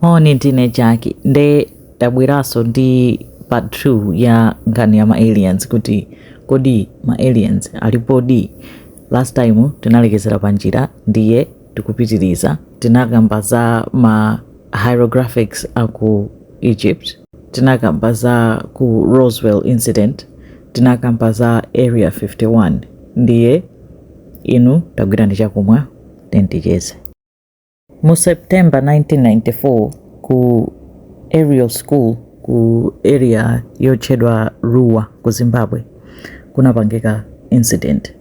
Moni ndine Jaki nde tabweraso ndi part 2 ya nkhani ya ma aliens kuti kodi ma aliens alipodi last time tinalekezera pa njira ndiye tikupitiriza tinakamba za ma hieroglyphics aku Egypt tinakamba za ku roswell incident tinakamba za area 51 ndiye inu tagwirani chakumwa tenticheze Mu September 1994, ku Ariel School ku area yotchedwa Ruwa ku Zimbabwe kunapangika incident.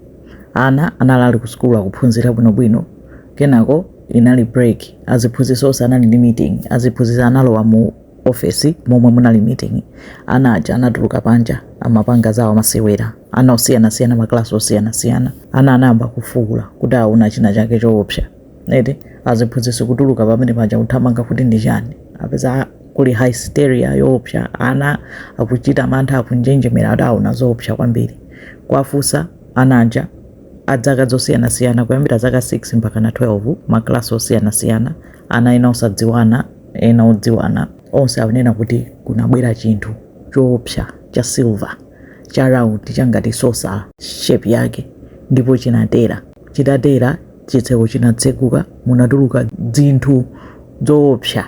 Ana anali ali ku school akuphunzira bwinobwino, kenako inali break, aziphunzitsi onse anali ndi meeting, aziphunzitsi analowa mu ofesi momwe munali meeting, ana aja anatuluka panja amapanga zawo amasewera, ana osiyanasiyana maklasi osiyanasiyana. Ana anayamba kufuwula kuti aona china chake choopsa. eti aziphunzitsi kutuluka pamene paja kuthamanga kuti ndi chani apeza a- kuli hysteria yoopsa ana akuchita mantha akunjenjemera ati aona zoopsa kwambiri kuwafunsa ana aja a zaka zosiyanasiyana kuyambira zaka 6 mpaka na 12 maklasi osiyanasiyana ana ena osadziwana ena odziwana onse akunena kuti kunabwera chinthu choopsa cha silver cha round changati saucer shape yake ndipo chinatera chitatera chitseko chinatseguka munatuluka dzinthu dzoopsa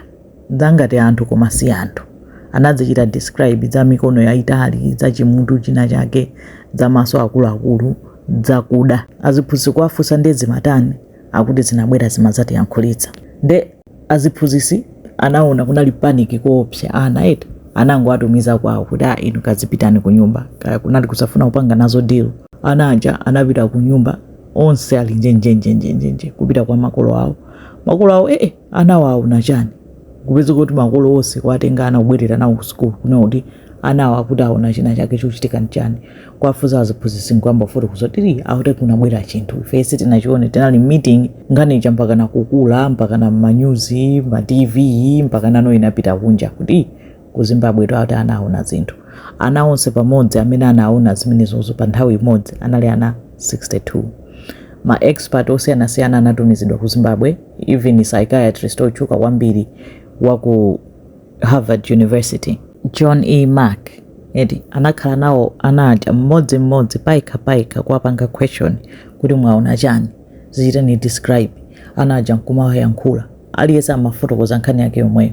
dzangati anthu koma si anthu anadzichita describe dza mikono yaitali dza chimutu china chake dza maso akuluakulu dzakuda aziphunzitsi kuwafunsa nde zimatani akuti zinabwera zimadzatiyankhulitsa nde aziphunzitsi anaona kunali panic koopsa ana eti anangowatumiza kwawo kuti a inu kazipitani ku nyumba kaya kunali kusafuna kupanga nazo deal ana aja anapita ku nyumba onse ali njenjenjenjenjenje kupita kwa makolo awo makolo awo ee anawa aona chani kupezeka kuti makolo onse kuwatenga ana kubwerera nawo ku sukulu kunena kuti anawa akuti aona chinachake chikuchitika nchani kuwafunsa aziphunzitsi nkuyamba kufotokoza kuti "Ii, akuti kunabwera chinthu ife sitinachione tinali mu meeting nkhani ija mpakana kukula mpakana mmanyuzi ma tv mpakana inapita kunja kuti "Ii, ku zimbabwetu akuti ana aona zinthu ana onse pamodzi amene anaona zimenezozo pa nthawi imodzi anali ana 62 ma expert osiyanasiyana anatumizidwa ku zimbabwe even psychiatrist otchuka kwambiri waku harvard university john e mack eti anakhala nawo ana aja mmodzi mmodzi payekha payekha kuwapanga question kuti mwaona chani zichiteni describe ana aja nkumawayankhula aliyense amafotokoza nkhani yake yomweyo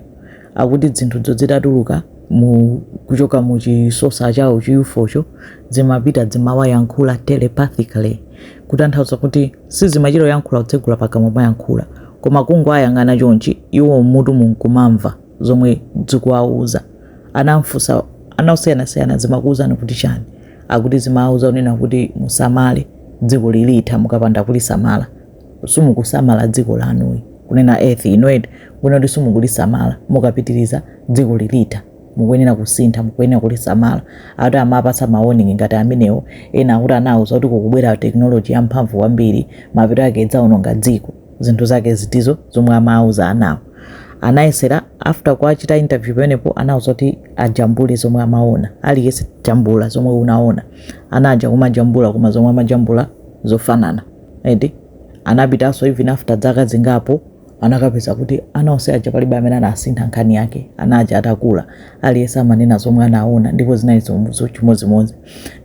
akuti dzinthudzo dzitatuluka mu kuchoka mu chi saucer chawo chi UFO cho dzimapita dzimawayankhula telepathically kutanthauza kuti Sizimachita kuyankhula kutsegula pakamwa poyankhula koma kungoayang'ana chonchi iwo mmutumu nkumamva zomwe zikuwauza. Anawafunsa ana osiyanasiyana zimakuuzani kuti chani? Akuti zimauza kunena kuti musamale dzikoli litha mukapanda kulisamala. Simukusamala dziko lanuli, kunena earth ino eti, kunena kuti simukulisamala mukapitiliza dzikoli litha. mukuyenera kusintha mukuyenera kulisamala ati amawapatsa ma warning ngati amenewo ena akuti anawauza kuti kukubwera technology ya mphamvu kwambiri mapeto ake idzaononga dziko zinthu zake zimenezo zomwe amawauza anawo anayesera after kuwachita interview pamenepo anawauza kuti ajambule zomwe amaona aliyense jambula zomwe unaona ana aja kumajambula koma zomwe amajambula zofanana eti anapitanso even after zaka zingapo anakapeza kuti ana onse aja palibe amene anasintha nkhani yake ana aja atakula aliyense amanena zomwe anaona ndipo zinali zom- zo- chimodzimodzi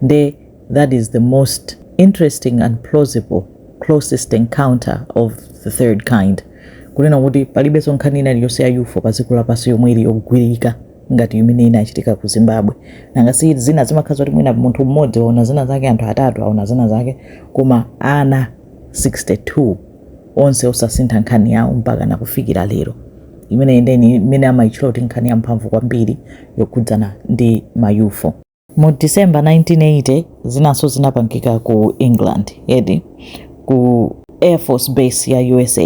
nde that is the most interesting and plausible closest encounter of the third kind kunena kuti palibenso nkhani ina iliyonse ya ufo pa dziko lapansi yomwe ili yogwirika ngati imene inachitika ku zimbabwe nanga si zina zimakhala zoti mwina munthu mmodzi waona zina zake anthu atatu aona zina zake koma ana 62 onse osasintha nkhani yawo mpakana kufikira lero. Imeneyi nde ni imene amaitchula kuti nkhani yamphamvu kwambiri yokhudzana ndi ma ufo. Mu December 1980, zinanso zinapangika ku England, eti ku Air Force Base ya usa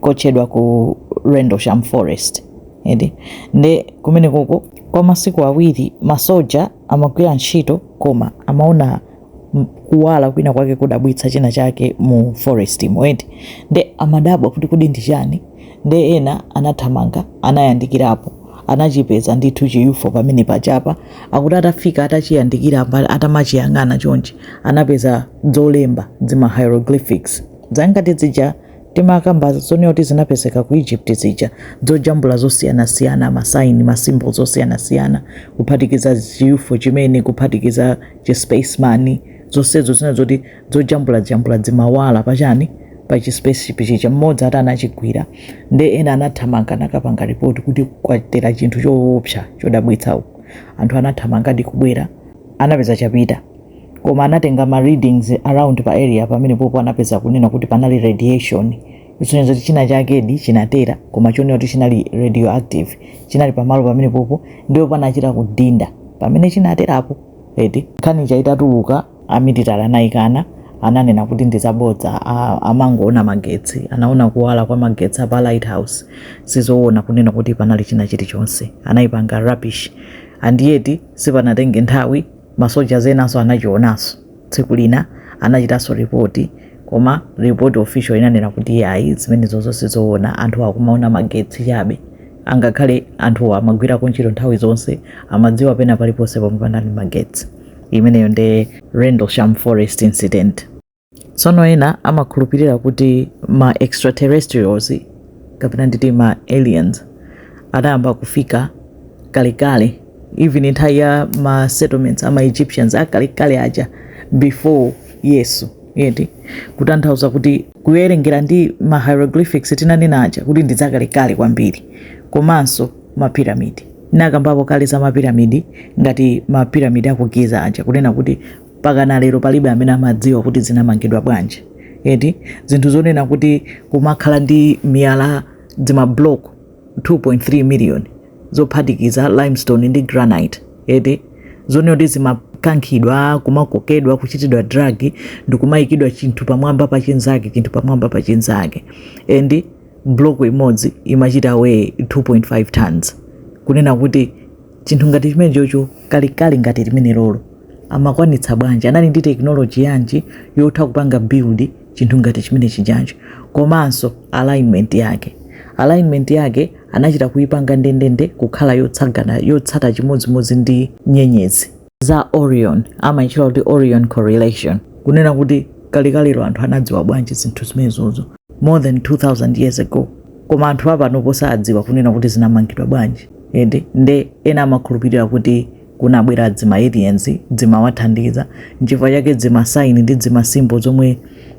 kotchedwa ku Rendlesham Forest, eti nde kumenekoko kwa masiku awiri masoja, amagwira ntchito koma amaona kuwala kwina kwake kodabwitsa china chake mu forest mu eti nde amadabwa kuti kodi ndi chani nde ena anathamanga anayandikirapo anachipeza ndithu chi ufo pamene pajapa akuti atafika atachiyandikira atamachiyang'ana chonchi anapeza zolemba za ma hieroglyphics zangati zija Timakamba zonena kuti zinapezeka ku Egypt zija, zojambula zosiyanasiyana, masaini, ma symbols osiyanasiyana, kuphatikiza chi ufo chimene, kuphatikiza chi space man, zonsezo zinali zoti zojambulajambula zimawala pa chani, pa chi spaceship chija, mmodzi ati anachigwira, nde ena anathamanga nkukapanga report kuti kwatera chinthu choopsa, chodabwitsa uku, anthu anathamangadi kubwera, anapeza chapita. koma anatenga ma readings around pa area pamene popo anapeza kunena kuti panali radiation kusonyeza kuti china chakedi chinatera koma chonena kuti chinali radioactive chinali pamalo pamene popo ndipo panachita kudinda pamene chinaterapo eti nkhani ija itatuluka a military anayikana ananena kuti ndi zabodza a- amangoona magetsi anaona kuwala kwa magetsi a pa lighthouse sizoona kunena kuti panali china chilichonse anayipanga rubbish and yet sipanatenge nthawi Ma soldiers enanso anachionanso tsiku lina anachitanso report koma report official inanena kuti ayi zimenezozo sizoona anthuwa akumaona magetsi chabe angakhale anthuwa amagwirako ntchito nthawi zonse amadziwa pena paliponse pomwe panali magetsi imeneyo ndi Rendlesham Forest incident. tsono ena amakhulupirira kuti ma extraterrestrials kapena nditi ma aliens adayamba kufika kalekale even nthawi ya ma settlements ama egyptians akalekale aja before yesu eti kutanthauza kuti kuyerekeza ndi ma hieroglyphics tinanena aja kuti ndi zakalekale kwambiri komanso mapiramidi nakambapo kale za mapiramidi ngati mapiramidi aku Giza aja kunena kuti pakana lero palibe amene amadziwa kuti zinamangidwa bwanji eti zinthu zonena kuti kumakhala ndi miyala dzima block 2.3 million zophatikiza limestone ndi granite eti zonena kuti zimakankhidwa kumakokedwa kuchitidwa drag ndikumayikidwa chinthu pamwamba pa chinzake chinthu pamwamba pa chinzake and block imodzi imachita weigh 2.5 tons kunena kuti chinthu ngati chimenechocho kalekale ngati limenelolo amakwanitsa bwanji anali ndi tekinoloji yanji yotha kupanga build chinthu ngati chimene chijacho komanso alignment yake alignment yake anachita kuipanga ndendende kukhala yotsagana yotsata chimodzimodzi ndi nyenyezi za Orion amayitchula kuti Orion correlation kunena kuti kalekalelo anthu anadziwa bwanji zinthu zimenezozo more than 2000 years ago koma anthu apanopo sadziwa kunena kuti zinamangidwa bwanji eti nde ena amakhulupirira kuti kunabwera dzima aliens dzimawathandiza nchifukwa chake dzima sign ndi dzima symbol zomwe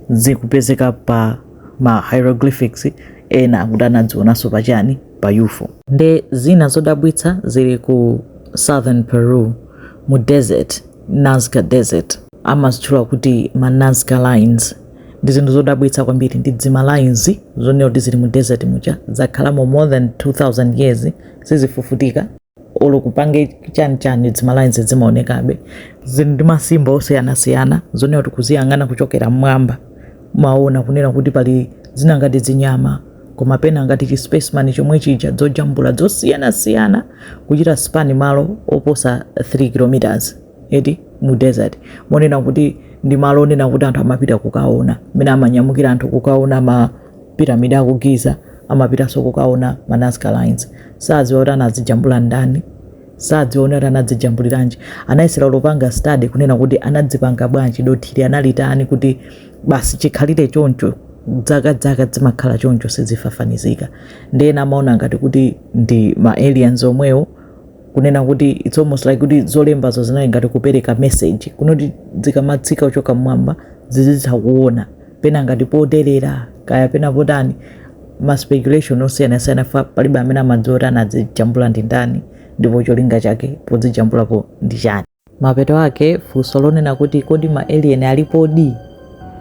zikupezeka pa ma hieroglyphics ena akuti anadzionanso pa chani pa UFO nde zina zodabwitsa zili ku southern Peru mu desert Nazca desert amazitchula kuti ma Nazca lines ndi zinthu zodabwitsa kwambiri ndi dzima lines zonena kuti zili mu desert muja zakhalamo more than 2000 years sizifufutika olo kupange chani chani dzima lines dzimaonekabe zili ndi masimbo osiyanasiyana zonena kuti kuziyang'ana kuchokera mmwamba umaona kunena kuti pali zina ngati zinyama koma pena ngati chispacemani chomwe chija dzojambula dzosiyanasiyana kuchita span malo oposa 3 kilometers eti mu desert monena kuti ndi malo onena kuti anthu amapita kukaona mmene amanyamukira anthu kukaona ma piramidi a ku giza amapitanso kukaona ma nazca lines sadziwa kuti anazijambula ndani sadziwa kuti anadzijambuliranji anayesera olo kupanga study kunena kuti anadzipanga bwanji dothili analitani kuti basi chikhalire choncho dzaka dzaka dzimakhala choncho sidzifafanizika nde ena amaona ngati kuti ndi ma aliens omwewo kunena kuti it's almost like kuti zolembazo zinali ngati kupereka message kunena kuti zikamatsika kuchoka mmwamba zizitha kuona pena ngati poterera kaya pena potani ma speculation osiyanasiyana ifa palibe amene amadziwa kuti anazijambula ndi ndani ndipo cholinga chake pozijambulapo ndi chani Mapeto ake, funso lonena kuti, Kodi ma alien alipodi?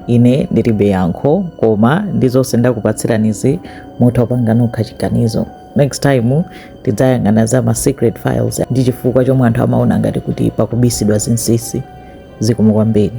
Ine ndilibe yankho, koma ndi zonse ndakupatsiranizi, mutha kupanga nokha chiganizo. Next time tidzayang'ana za ma secret files ndi chifukwa chomwe anthu amaona ngati kuti pakubisidwa zinsinsi. Zikomo kwambiri.